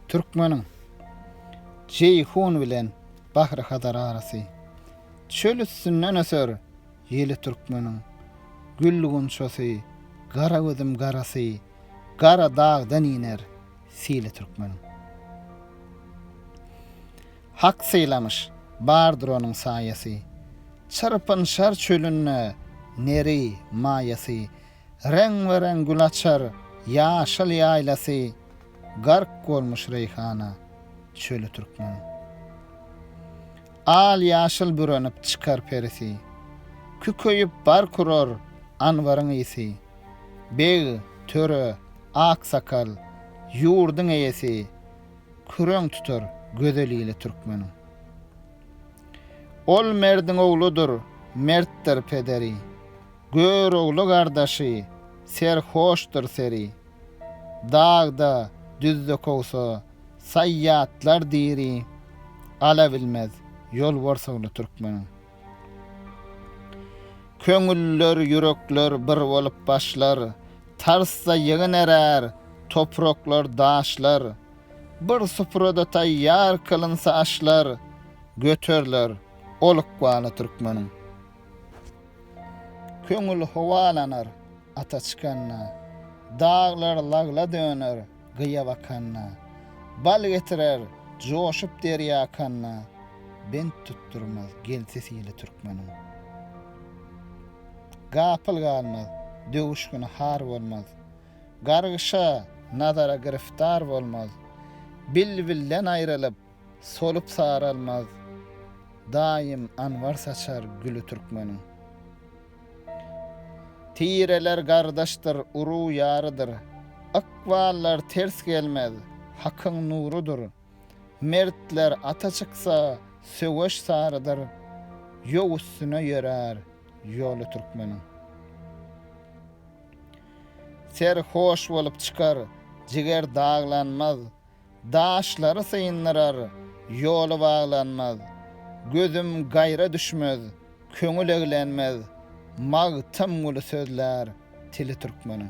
Türkmeniň Jeýhun bilen Bahry Hazar arasy. Çöl üstünden öser ýeli türkmeniň. Gül gunçasy, gara gözüm garasy, gara dagdan iner sili türkmeniň. Hak sylamyş, bardyr onuň saýasy. Çyrpynşar çölünde neri, maýasy. Reňbe-reň gül açar ýaşyl ýaýlasy, Gark bolmuş reýhana çöli türkmen. Al-ýaşyl bürenip çykar perisi, Kükeýip bark urar anbaryň ysy. Beg, töre, aksakal, ýurduň eýesi, Küreň tutar gözel ili türkmeniň. Ol merdiň ogludyr, mertdir pederi. Görogly gardaşy, serhoşdyr seri. Dagda, düzde kowsa, saýýatlar diri. Ala bilmez, ýol borsagly türkmeniň. Köňüller, ýürekler bir bolup başlar, Tarsda ýygyn erär, topraklar, daşlar. Bir suprada taýýar kylynsa aşlar, Göteriler ol ykbaly türkmeniň. Köňül howalanar ata çykanda, Daglar lagla döner gyýa bakanda, Bal getirer joşup derýa akanda, Bent tutdurmaz gelsi sili türkmeniň. Gapyl galmaz, döwüş güni har bolmaz, Gargyşa, nazara giriftar bolmaz, Bilbilden aýrylyp, Solup saralmaz, daýym anbar saçar güli türkmeniň. Tireler gardaşdyr, uruw-ýarydyr, ykballar ters gelmez, hakyň nurudyr. Mertler ata çyksa, söweş sarydyr, ýow üstüne ýörär ýoly türkmeniň. Ser hoş bolup çykar, jiger daglanmaz. Daşlary syndyrar, ýoly baglanmaz. Gözüm gaýra düşmez, köňül eglenmez. Magtym guly sözlär tili türkmeniň.